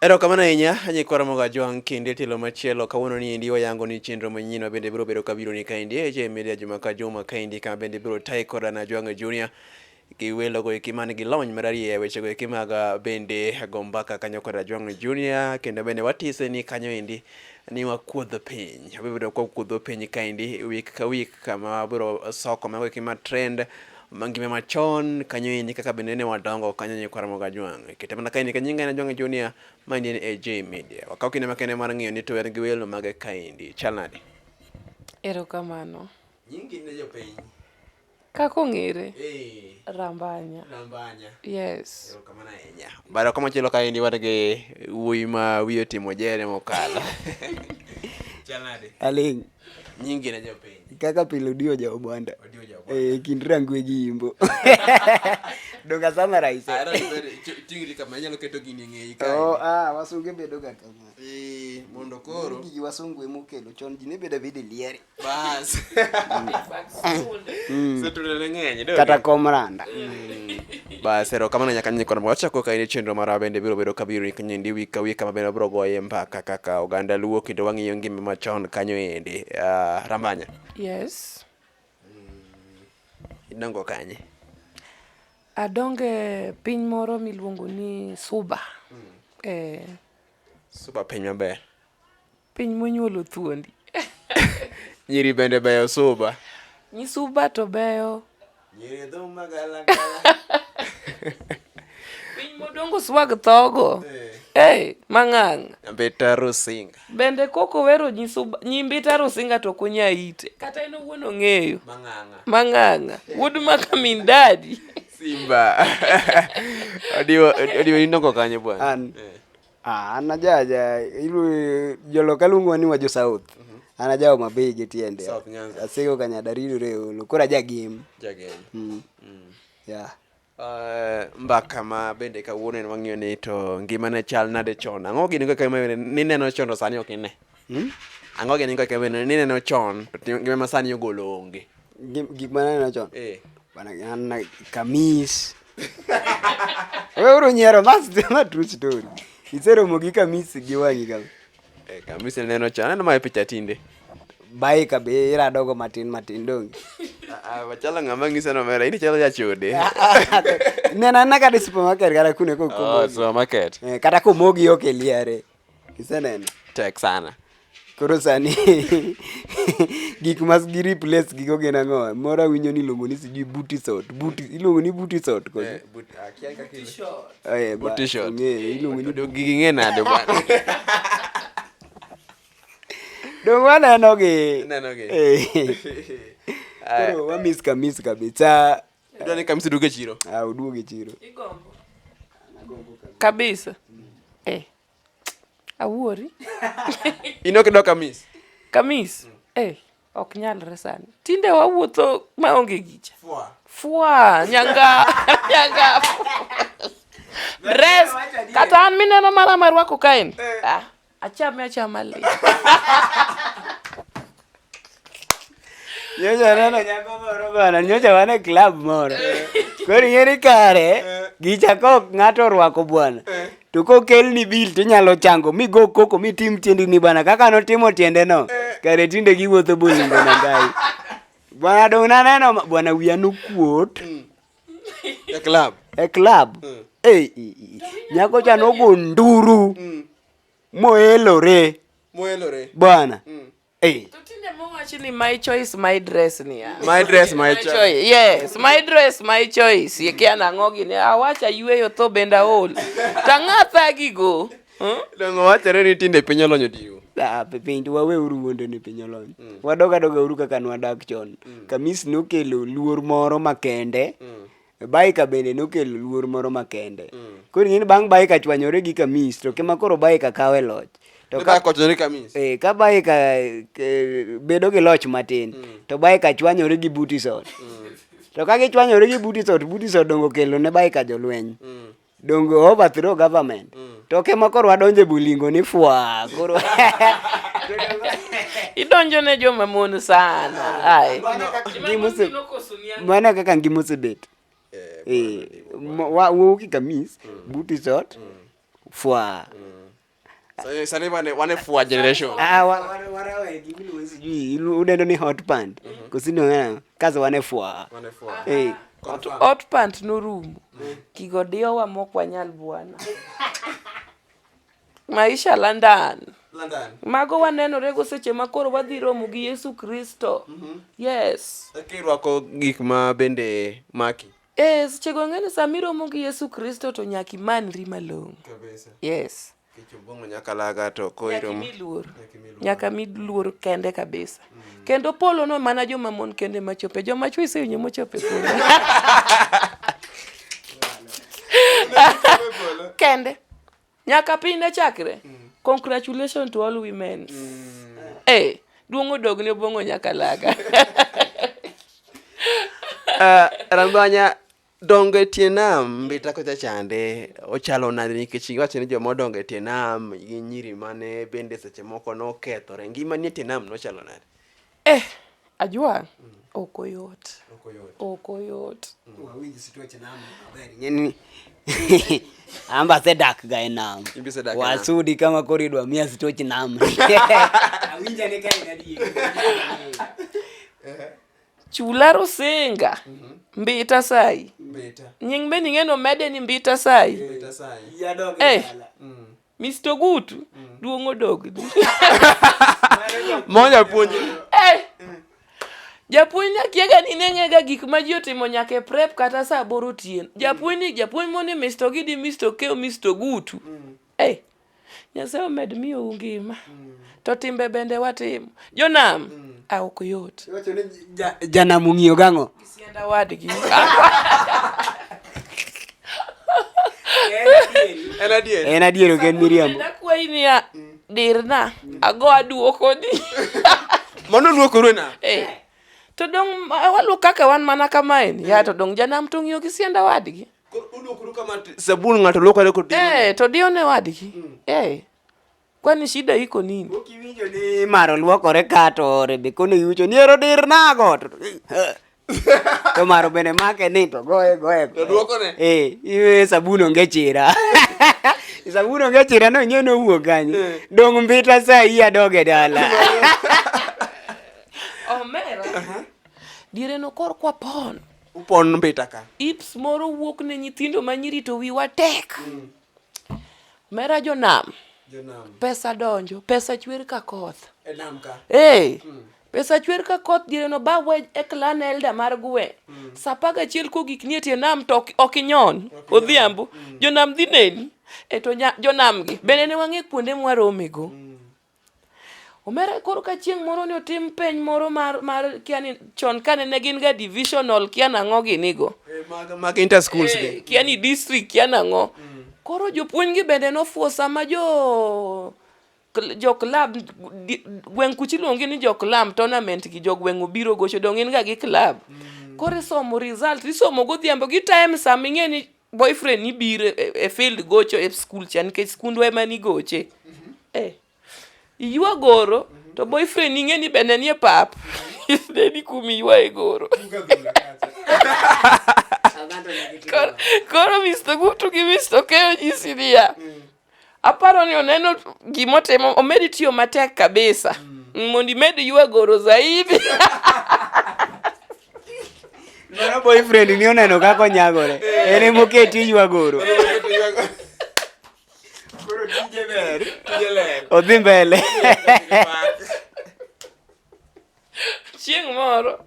Erokamano ahinya nyikwara mogo ajwang' kinde tielo machielo kawuono ni endi wayango ni chenro manyien ma bende biro bedo ka biro ni kaendi e je media juma ka juma kaendi ka bende biro tayi koda na ajwang' junior gi welo go eki man gi lony mararieya e weche go eki mag ah, bende go mbaka kanyo koda ajwang' junior kendo bende watise ni kanyo endi ni wakuodh piny wabedo ka wakuodho piny kaendi week ka week kama wabiro soko mago eki ma trend mangime machon kanyo endi kaka bende ne wadongo kanyo nyikwa Ramogi Ajwang' ikete mana kaendi ka nyinga en Ajwang' Junior ma endi en AJ Media wakaw kinde makende mar ng'iyo ni to wer gi welo mage kaendi chal nade Erokamano. nyingi ne jopiny Kaka ong'ere, eh Rambanya. rambanya Yes. erokamano ahinya bara kama chielo kaendi wan gi wuoyi ma wiye otimo jere mokalo chal nade Aling'. nyingi na jopiny kaka pile odiyo ja obwanda Odiyo ja Obwanda. eh kind rangwe gi imbo donga sama rais Ara ibere ch- tingri kama inyalo keto gini e ng'eyi kae. oh ah wasunge bedo ga kama Eh, mondo koro gigi wasungu emo kelo chon ji ne bedo bidi lieri bas Big bags, sold. setrudene ng'eny do kata komranda Bas, erokamano nyaka nyinyi kod wachako ka in chenro mara bende biro bedo ka biro nyindi wi ka wi kama bende wabiro goye mbaka kaka oganda luo kendo wang'iyo ngima machon kanyo ende. Ah, Rambanya, Yes. idongo kanye? Adonge piny moro miluongo ni Suba. Eh, Suba piny maber. Piny monyuolo thuondi. Nyiri bende beyo suba. Nyisuba to beyo. Nyiri dhum magala gala. Piny modongo swag thogo. Eh. Hey, eh, mang'ang. Mbita Rusinga. Bende koko wero nyisuba, nyimbita Rusinga to kunya ite. Kata ino wuon ong'eyo. Mang'anga. Mang'anga. Wuod maka min dadi. Simba. Odiwo, odiwo inoko kanyo bwana. An. Eh. Ah, an ajaja ilu- joloka luongowa ni wajo south an aja homa bay gi tiende South Nyanza. asego kanyada ridore e olo koro aja gem Jagem. mm. yeah. Uh, mbaka ma bende kawuono en wang'iyo ni to ngimane chal nade chon ang'o gini kaka ma nineno chon to sani ok ine Hmm? Ang'o gini kaka bende nineno chon to ngima ma sani ogolo onge. Gik ma naneno chon. Eh. Bana na kamis. Wewe uru nyero that's the true story. Isero mo gi kamis gi wangi kama. Eh, kamis neno chon. Aneno ma picha tinde. Bai ka be ira dogo matin matin dong. Ah, wachala ah, ng'ama ng'isa no mera, ini chalo jachode. Ah, ah, Nena na kata supermarket kata kune ko ko. Oh, supermarket. Eh, kata ko mogi ok eliare. Iseneno? Tek sana. Koro sani gik mas gi replace gigo gin ang'o? Moro awinjo ni iluongo ni sijui booty short. Booty iluongo ni booty short kod. Eh, but akia ah, kaka iluongo. Eh, booty short. Ng'e iluongo ni dogi ng'e nade bwana. Dong waneno gi. Neno gi. Eh. Koro wamiss ka miss kabisa. Idwa ni kamsi duoge chiro. Ah, uduoge chiro. Igombo. Nagombo kabisa. Kabisa. Eh. Awuori. Ino kido kamis. Kamis. Eh. Ok nyalre sani. Tinde wawuotho maonge gicha. Fwa. Fwa. Nyanga. Nyanga. Dress. Kata an mineno mara marwako kaen. Ah. Achame achama le. Nyocha aneno nyako moro bana, nyocha wan e club moro. Koro ing'eni kare gicha kok ng'ato orwako bwana. To kokelni bil tinyalo chango mi go koko mi tim tiendini bana kaka notimo tiendeno. Kare tinde giwuotho bolingo na ngai. Bwana dong' naneno ma- bwana wiya nokuot. e club e club mm. hey, eh, eh, eh, nyako cha nogo nduru mm. moelore moelore bwana mm. Hey. Ni my choice my dress ni ya. My dress my, my choice. choice. Yes, my dress my choice. Yekia na ngogi ni awacha yueyo to benda ol. Tang'atha gigo. Hmm? Dongo wachore ni tinde piny olony odiwo. Ah, piny to wawe uru wuondo ni piny olony. Hmm. Wadog adoga uru kaka nwadak chon. Hmm. Kamis nokelo luor moro makende. Hmm. Baika bende nokelo luor moro makende. Hmm. Koro ing'eni bang' Baika chwanyore gi Kamis to kema koro Baika kawe loch. To ka kochore Kamis. Eh, ka Baika eh, bedo gi loch matin hmm. to Baika chwanyore gi Butison. Hmm. To ka gichwanyore gi Butison, Butison dongo kelo ne Baika jolweny. Hmm. donge overthrow government mm. to ke moko rwa donje bulingo ni fwa koro idonjo ne joma mon sana ai mana kaka ngima osebet eh, eh, wawuoki kamis mm. buti sot mm. fwa mm. Sasa sasa wane wane fuwa generation. Ah, wa- wale wale wa elimu ni wezi juu, ilu- udendo ni hot pant. Kusini wana kazi wane fua. Wane fuwa. Eh. Hot pant norumo. Kigo diyo wa mok wanyal bwana. Maisha London. London. Mago wanenore go seche ma koro wadhi romo gi Yesu Kristo. Yes. Lakini wako gik ma bende maki. Eh, seche go ang'e ni sama iromo gi Yesu Kristo to nyaka imanri malong'o. Kabisa. Yes. Kech obong'o nyaka laga to ko Nyaka iromo. imi luor. Nyaka imi luor. Nyaka mi luor kende kabisa. Kendo polo no mana joma mon kende ma chope. Joma chwe isewinjo mochope polo. Kende. Nyaka piny ne chakre. Mm. Congratulations to all women. Mm. Hey, eh, duong' odog ne obongo nyaka laga. uh, eh, Rambanya dongo e tie nam mbita kocha chande ochalo nade nikech iwacho ni joma odongo e tie nam gi nyiri mane bende seche moko nokethore ngima ni e tie nam nochalo nade Eh, Ajua ok oyot. Ok oyot. Wawinji situache nam aber ng'eni. Amba se dak ga e nam. Wasudi kama koridwa mia situache nam. Awinja ne kai gadi. Chula Rusinga. Mm -hmm. Mbita sai. Mbita. Nying be ning'eno mede ni Mbita sai. Mbita sai. Yadog. Eh. Mm. Mr. Gutu, mm. duong' odogni. Moja puonj. Eh. Japuonj na kiega ni ne ng'ega gik ma ji otimo nyaka e prep kata sa aboro otieno. Mm. Japuonj ni japuonj moni Mr. Gidi, Mr. Keo, Mr. Gutu. Mm. Eh. Nyasaye omed miyo ungima. Mm. To timbe bende watimo. Jonam. Mm. Ah, ok yot. Janam ung'iyo gang'o? Sienda wadgi. En adier. En adier ok en miriambo. Nakwayi niya dirna ago aduoko ni. Mano luokore na. Eh. To dong waluok kaka wan mana kamae ni. Ya to dong janam to ng'iyo gi sienda wadgi. Sabun ng'ato luokore kod Eh to diyo ne wadgi. Mm. Eh. Kwani shida iko nini? Ukiwinjo ni maro luokore ka to Rebeko ne yucho ni ero dir nago. To- To maro bende make ni to goye goye. To duokone? Eh, iwe sabun onge chira. sabun onge chira no nyono owuok kanyo. Eh. Dong mbita saa hii adoge dala. Omera. Diere no kor kwa pon. Upon mbita ka. Ips moro wuok ne nyithindo ma nyiri to wiwa tek. Mera jonam. Jonam. Pesa donjo, pesa chwer ka koth. E nam ka. Hey. Mm. Pesa chwer ka koth dire no ba we e clan elder mar gwe. Mm. Sapa ga chiel ko gik nie tie nam to ok inyon. Odhiambo. Mm. Jonam dhi neni. E to jonam gi. Bende ne wang'e kuonde mwaromego. Mm. Omera koro ka chieng' moro ni otim peny moro mar mar kia ni chon kane ne gin ga divisional kia nang'o ginigo. Eh, mag mag inter schools gi. Eh, kia ni district kia nang'o. Koro jopuonj gi bende nofuo sama jo kl- jo club di- gweng' kuchi luongi ni jo club tournament gi jo gweng' obiro gocho dong in ga gi club. Koro isomo result isomo godhiambo gi time sama ing'e ni boyfriend ni biro e, e field gocho e skul cha nikech skundwa ema ni goche mm-hmm. eh. iywa goro mm-hmm. to boyfriend ing'e ni bende nie pap ne ni kum iywa e goro koro misto gutu gi misto keyo nyisi niya mm. Aparo ni oneno gima otimo, omedi tiyo matek kabisa mm. mondo imed yuagoro zaidi Mano boyfriend ni oneno kaka onyagore. En ema oketi yuagoro. Koro tije ber, tije ler. Odhi mbele. chieng' moro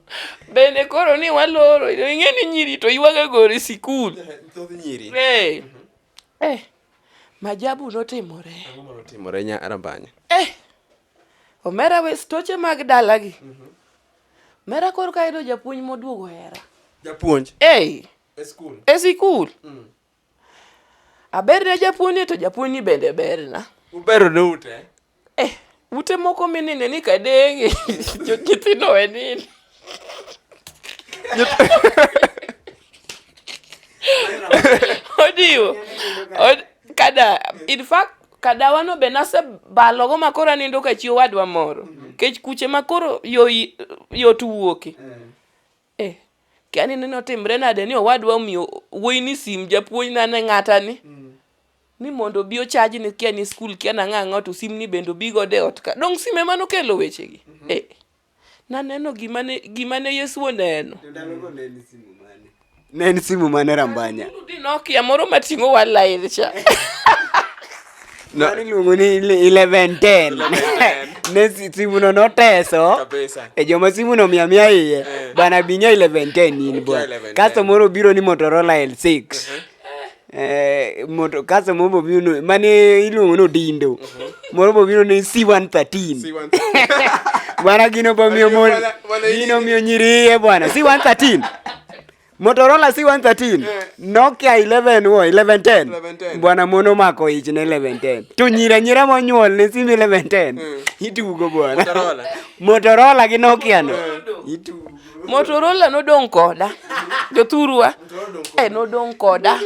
bende koro ni waloro ing'e ni nyiri to ywaga gore sikul eh, eh. Majabu notimore. Ang'o ma notimore nya Rambanya? Eh! Omera we stoche mag dalagi. Mm -hmm. Mera koro ka yudo japuonj moduogo hera. Japuonj? Hey. E skul. E sikul. Mm. Aber ne japuonj to japuonj ni bende berna. Ubero ne ute? Eh, ute moko minine ni kadenge nyithindo we nini odiwo Od- kada in fact kadawano be nasebalogo ma koro anindo ka chi owadwa moro kech kuche ma koro yo- yot wuoke Eh, kia ni neno timre nade ni owadwa omiyo wuoyi ni sim japuonj na ne ng'ata ni. Mm. Ni mondo obi ochaji ni kia ni skul kia na ng'a ng'a to sim ni bende obi go de ot ka. Dong sim ema nokelo weche gi. Mm -hmm. Eh. Naneno gima ne, gima ne Yesu oneno. Ndalogo ne en simu mane? Ne en simu mane Rambanya? Nokia moro mating'o wa live cha. No. Mano iluongo ni ele- eleven ten ne si- simuno noteso Kabisa. e joma simuno mia mia iye Eh. bana binya eleven ten in Okia bwana 1110. kasto moro obiro ni motorola l six Eh, moto kasto moro bobiro ni- mane iluongo ni odindo moro bobiro ni c one thirteen See one thing. bwana gino bomiyo Odindo mon- bwana- bwana gino iye. miyo nyiriye bwana c one thirteen Motorola C113, eh. Nokia 11 wo 1110. Bwana mono mako ich ne 1110. To nyira nyira monyuol ne sim 1110. Eh. Itugo bwana. Motorola. Motorola gi Nokia no. Eh. Itugo. Motorola nodong koda. Jothurwa. Eh nodong koda.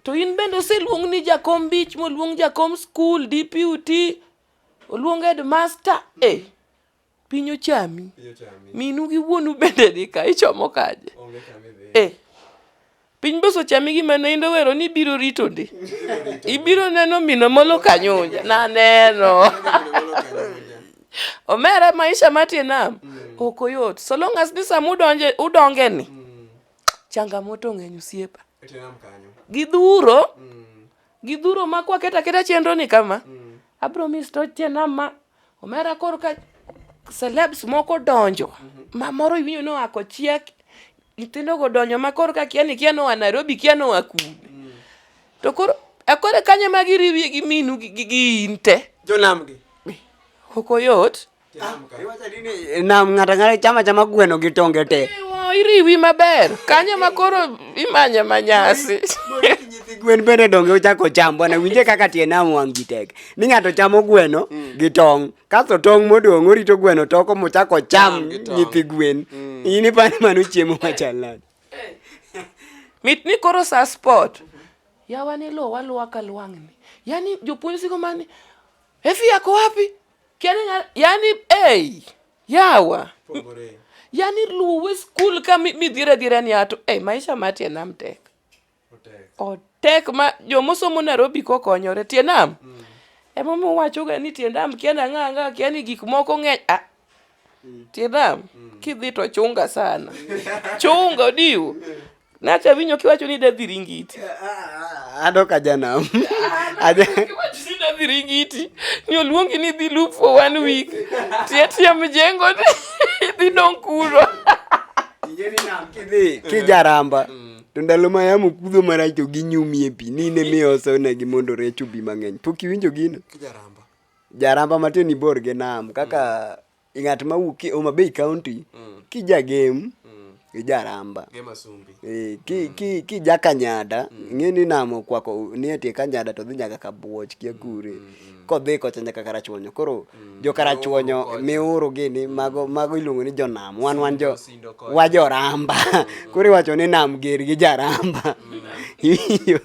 To in bende oseluong ni jakom beach, moluong jakom school, DPUT, oluong headmaster. Eh. Piny ochami. Piny ochami. Minu gi wuonu bende ni ka ichomo kaje. Onge kama idhi. Eh. Piny boso chami gima ne indo wero ni ibiro rito ndi. Ibiro neno mino molo kanyunja. Na neno. Omera maisha matie nam. Mm. Ok oyot. So long as ni sama udonje udonge ni. Mm. Changamoto ng'eny usiepa. Etenam kanyo. Gidhuro. Mm. Gidhuro makwa keta keta chenro ni kama. Mm. Abro misto chenama. Omera koro ka celebs moko donjo mhm. ma moro iwinjo ni oako chiek nyithindogo donjo ma koro ka kia ni kia noa Nairobi kia noa kuno mm. to koro akore e kanye ma giriwie gi minu gi in te jonamgi ok oyot ah, eh, nam ng'ato ang'ata chama chama gweno gi tonge te eh, iriwi maber kanyo ma koro imanye manyasi gwen bende donge ochako cham bwana winje kaka tie nam wang' gi tek ni ng'ato chamo gweno mm. gi tong' kasto tong' modong' orito gweno toko mochako cham nyithi gwen mm. in ipani mano chiemo machal nade mit ni koro sa sport yawa ni lo waluwa ka lwang'ni yani jopuonj siko mani efi yako wapi kiani yani ei yawa yani luwe skul ka midhira dhira ni ato ei maisha mati enam tek otek ma jomosomo Nairobi kokonyore tie nam mm. emomiyo wachoga ni tie nam kia nang'a anga kia ni gik moko ng'eny ah, mm. tie nam mm. kidhi to chunga sana chunga odiwo nacha winyo kiwacho ni dadhi ringiti adok aja nam dadhi ringiti ni oluongi ni dhi loop for one week tie tie mjengo dhi dong kuro kijaramba mm. To ndalo ma yamo kudho marach to ginyumie pi, ni in emiyo osonegi mondo rech obi mang'eny. Pok iwinjo gino? Kijaramba. Jaramba matin ibor gi nam kaka mm. ng'at ma wuok e Homa Bay County mm. kijagem mm. ijaramba e, ki, mm. ki, ki jakanyada mm. ng'e ni nam okwako ni etie kanyada to dhi nyaka kabuoch kia kure mm. kodhi kocha nyaka karachuonyo koro mm. jo karachuonyo miuru gini mago mago iluongo ni jonam wan wan jo wa joramba mm. koro iwacho ni nam ger gi jaramba mm. iyo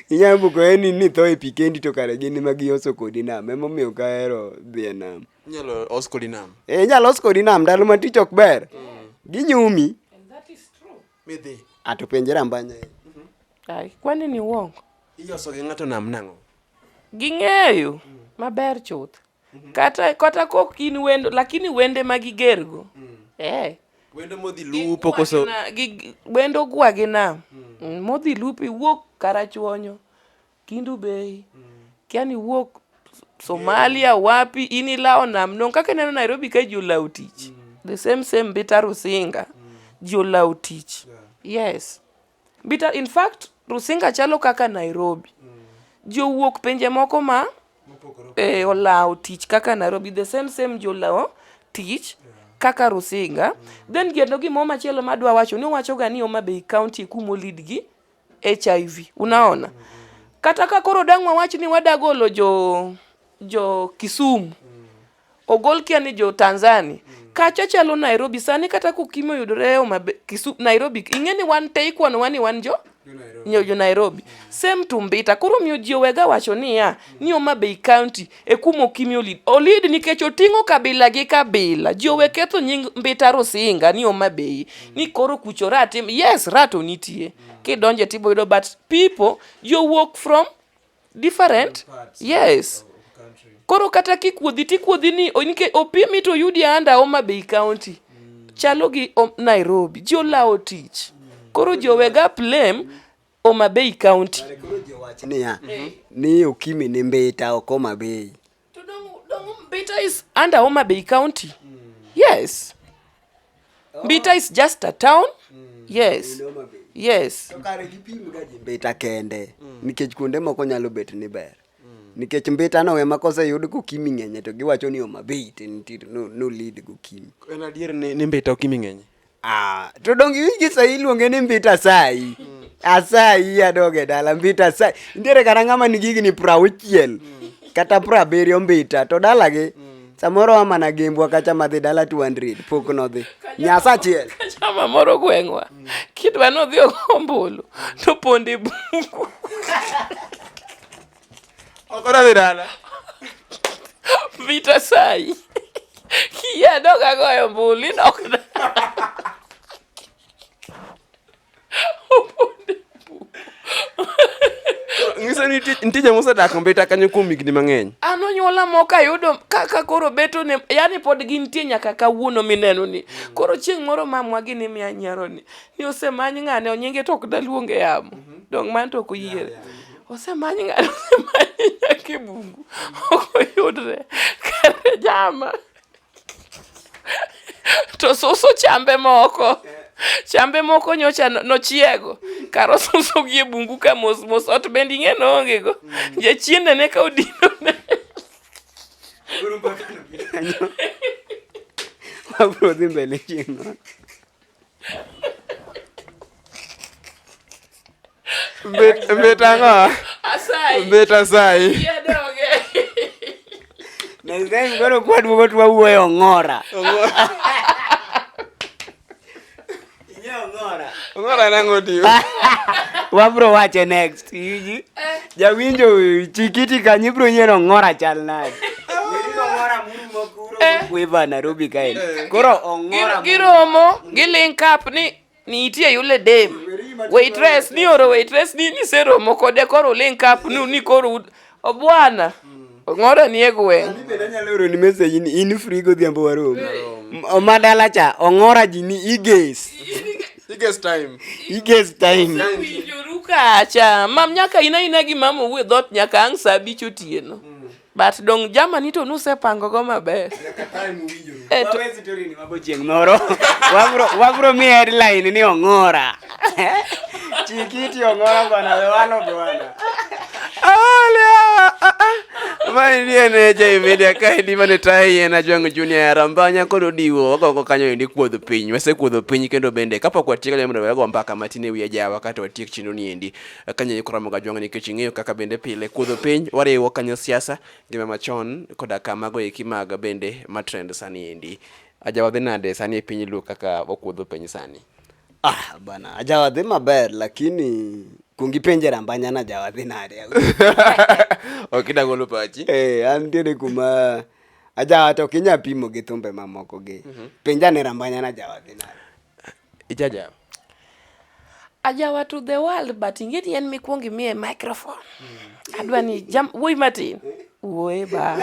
inyalo buko eni ni tho e pi kendi to kare gin ma gioso kodi nam emomiyo kahero dhi e nam inyalo os kodi nam e inyalo os kodi nam ndalo ma tich ok ber ginyumi midhi ato penje rambanya ai kwani ni uongo iyoso gi ng'ato nam nang'o ging'eyo maber chuth kata kata kok in wendo lakini wende ma gigergo eh wendo modhi lupo koso Gigwagina- gi- wendo gwagi nam Mm, modhi lupi wuok karachuonyo Kindu Bay. Kia ni wuok Somalia wapi in ilawo nam non kaka ineno Nairobi ka ji olawo tich. The same same Mbita Rusinga ji olawo tich. Yes. Mbita in fact Rusinga chalo kaka Nairobi. Ji owuok pinje moko ma e, olawo tich kaka Nairobi the same same ji olawo tich kaka Rusinga. Then geno gimoro machielo madwa wacho ni owachoga ni Homa Bay County e kuma olidgi HIV. Unaona? Kata ka koro dang' wawach ni wadagolo jo jo Kisumu ogol kia ni jo Tanzania kacha chalo Nairobi sani kata kukimo yudore Homa Bay- Kisu- Nairobi ing'e ni wan te ikwanowa ni wan jo nyo jo Nairobi same to Mbita koro miyo ji owega wacho niya ni Homa Bay County e kuma Okimi olid. Olid nikech oting'o kabila gi kabila. Ji owe ketho nying Mbita Rusinga ni Homa Bay, ni koro kucho rat. Yes, rat to nitie. Kidonje tibo yudo but people you walk from different. Yes. Koro kata kikuodhi tikuodhi ni nikech opimi to yudi anda Homa Bay County. Chalo gi Nairobi. Ji olawo tich. Koro ji owega blame. Homa Bay County. Kare koro ji owach niya ni Okimi ni Mbita ok Homa Bay. To dong, dong Mbita is under Homa Bay County. Yes. Mbita is just a town. Yes. Homa Bay. Yes. To kare gipim ga ji Mbita kende nikech kuonde moko nyalo bet ni ber. Nikech Mbita no ema koseyud kokimi ng'enye to giwacho ni Homa Bay tin tin no, no lead gokimi. En adier ni, ni Mbita Okimi ng'enye. Ah, to donge iwinji sahi iluonge ni mbita asayi asayi adog e dala mbita asayi nitiere kata ng'ama nigi higni prauchiel kata prabiriyo mbita to dalagi samoro wa mana gembwa kacha madhi dala 200 pok nodhi nyasa achiel Chama moro gweng'wa. Kidwa nodhi ogo ombulu to pondi bungu. Okora dirala. Vita sai. Kia doga goyo mbuli nok. Ng'iso ni nitie joma osedak mbita kanyo kuom higni mang'eny. An onyuola moko ayudo kaka koro beto ne yani pod gintie nyaka kawuono mineno ni. Koro chieng' moro mamwa gini miya nyiero ni. Ni osemany ng'ane onyinge to ok daluonge yamo. Dong' man to ok oyiere. Osemany ng'ato osemany nyaka e bungu ok oyudre kare jama to susu chambe moko chambe moko nyocha nochiego kar osuso gi e bungu ka mos mos ot bende ing'e noonge go jachiende ne ka odino ne abro dhi mbele chieng' Bit bit ang'o? Asayi. Bit asayi. Yadonge. Next time koro kwaduogo to wawuoyo ong'ora. Ong'ora nang'o diyo. Wabro wache next. Siji. Eh. Jawinjo chikiti kanyo ibro nyiero ng'ora chal nade. Eh. Weva Nairobi kae. Eh. Koro ong'ora. Giromo, gilink up ni nitie yule dem. Waitress ni oro waitress ni ni seromo kode koro link up ni koro Obwana. Ng'ora ni e gweng'. Ani bende anyalo oro ni message ni in free godhiambo warom. Oma dala cha ong'ora ji ni iges. Iges time. Iges time. Winjoru kacha. Mam nyaka ina ina gi mama uwe dhot nyaka ang' saa abich otieno. But dong jamani to nusepango go maber. Nyaka time uwinjoru. Eh, chieng' moro wabro mi headline ni ong'ora chikiti ong'ora bwana wewalo bwana Maini en Jay Media ka edi mane tayi en Ajwang' Junior Arambanya kod Odiwo wagogo kanyo endi kuodho piny wasekuodho piny kendo bende kapok watieko lemo mondo wago mbaka matin e wi ajawa kato watiek chenro ni endi kanyo ikoramo ga Ajwang' nikech ing'eyo kaka bende pile kuodho piny wariwo kanyo siasa Ngima machon koda ka mago eki mag bende ma trend sani endi. Ajawa dhi nade sani e piny Luo kaka okuodho piny sani? Ah, bana, ajawa dhi maber lakini kuong ipenje rambanya na ajawa dhi nade. ok idang olo pachi. Eh, an tiene kuma ajawa to kinya pimo gi thumbe mamoko gi. Mm -hmm. Penja ne rambanya na ajawa dhi nade. ijajawa ajawa to the world but inge ni en mikwongo imiye microphone mm. adwa ni jam wuoyi matin wuoye ba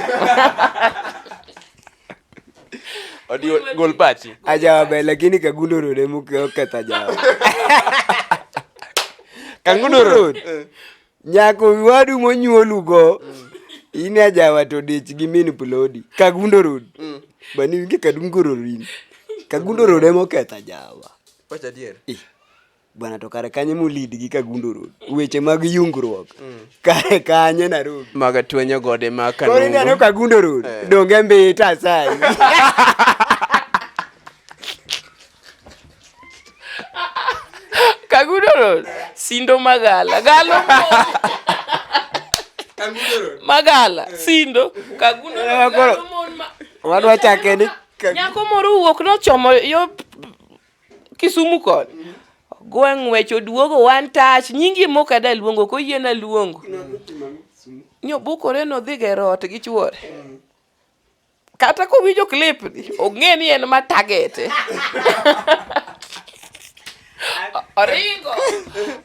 odio gol pachi ajawa be lakini kagundo road emoketho ajawa kangundo road eh. Nyako wadu monyuolugo in ajawa to dich gi min plodi kagundo road mm. bani winge kadundo road in kagundo road emo ketha jawa wacha dier eh, bwana to kare kanye molid gi kagundo road weche mag yungruok mm. kare kanye narobi maga twenyo gode ma kanungo kore neno kagundo road eh. donge mbita sai Kagudoro sindo magala galo magala eh. sindo kagudoro eh, galo mon ma wadwa chake ni nyako moro wuok nochomo yo Kisumu kod gweng' wech oduogo one touch nyingi mok ada luongo koyiena luongo nyobukore nodhi gero ot gi chuore mm. kata kowinjo clip ni ong'e ni en ma target oringo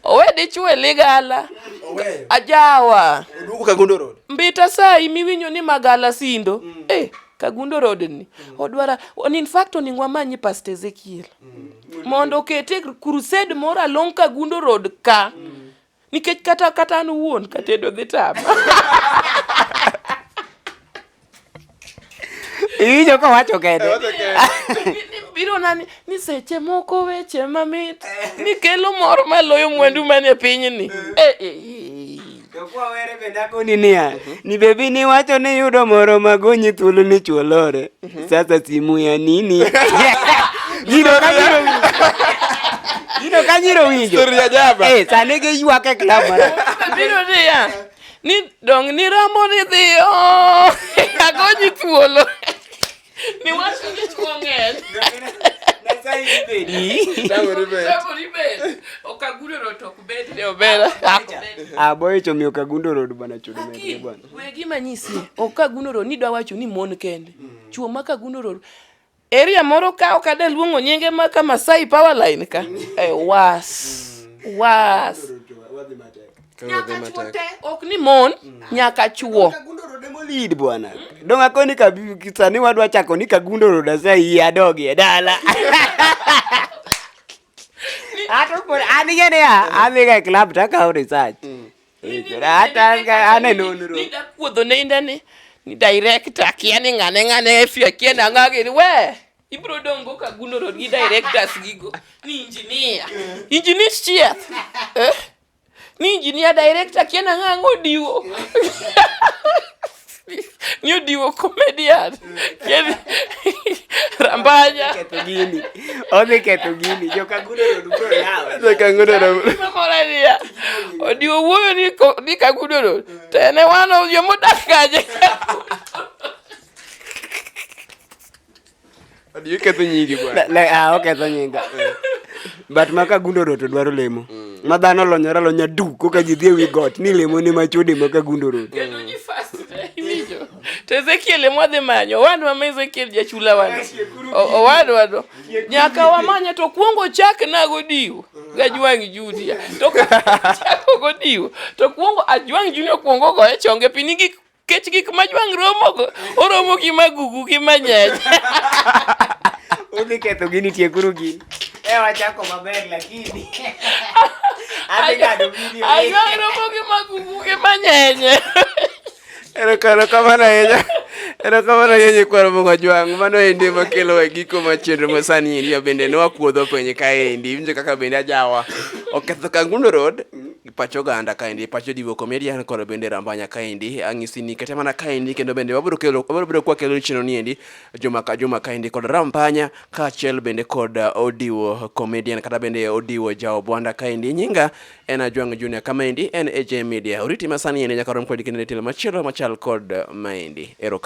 owe dichwo e ligala Oweyo. ajawa Oduogo Kagundo Road. mbita sai miwinjo ni magala sindo mm. eh, kagundo rodni mm. odwara on in fact oningo amanyi past ezekiel mm. mondo okete crusade moro along kagundo road ka mm. nikech kata kata an wuon katedo dhi tama iwinjo kowacho kende biro nani ni seche moko weche mamit nikelo mor maloyo mwandu manie pinyni eh, eh, eh. Kwawere bende akoni niya, ni bebi niwacho ni yudo moro magonyi thuolo ni chwolore. Sasa simu ya nini? Jino kanyiro winjo. Jino kanyiro winjo. Story ya jaba. Eh, sane ke yuwa ke klama. Biro dia. Ni dong ni rambo ni dhiyo. Agonyi thuolo. Ni wasu ni chuongen. Aboy chomi okagundo road bana chudo mende bwana. we gima nyisi ok ka gunoro ni dwa wacho ni mon kende mm. chuo ma ka gunoro area moro ka ok ade luongo nyinge ma ka Masai power line ka mm. e was mm. was nyaka chuo te ok ni mon nyaka chuo lead bwana dong akoni ka sani wadwa chako ni kagundoro dasa iye adogi e dala ato an ing'e niya adhiga e club takawo research Nidakudho ne inda ni ni director kia ni ng'ane ng'ane efia kia na ng'age ni we ibro dongo ka guno rod gi directors gigo ni engineer engineer chieth eh? ni engineer director kia na ng'ango diwo New Diwo comedian. Kedi Rambanya. Keto gini. Odhi keto gini. Jo Kagudo road bro yawa. Jo Kagudo road. Moralia. Odiwo wuoyo ni ni Kagudo road. To en e wano yo modak kaje. Adi iketho nyingi bwana. Le- le- ah, oketho nyinga but maka gundo road to dwaro lemo ma dhano olonyore alonya du koka ji dhi e wi got ni lemo ne machode maka gundo road Kendo ji fast te, iwinjo. To Ezekiel ema wadhi manyo. Owadwa ma Ezekiel jachula wan. O- Owadwa do. Nyaka wamanye to kwongo chak nago diwo. Gajwang' Judia. To kwongo chako go diwo. To kwongo ajwang' Junia kwongo goye chonge piny gi kech gik ma jwang' romogo oromo gi magugu gi manyach udhi ketho gini tiekuru gini e wachako maber lakini ajwang' romo gi magugu gi manyenye erokamano ahinya erokamano ahinya nyikwar mogo jwang' mano endi makelo e giko ma chenro ma sani endi bende ne wakuodho piny kaendi winjo kaka bende ajawa oketho kangundo road pach oganda kaendi pach jodiwo comedian koro bende rambanya kaendi ang'isi ni kete mana kaendi kendo bende wabiro kelo wabiro bedo kwa kelo chino niendi juma ka juma kaendi kod rambanya kaachiel bende kod uh, odiwo comedian kata bende odiwo jao bwanda kaendi nyinga en ajwang junior kamaendi en aj media oriti masani ene nyaka rom kod kinde telo machielo machal kod uh, maendi ero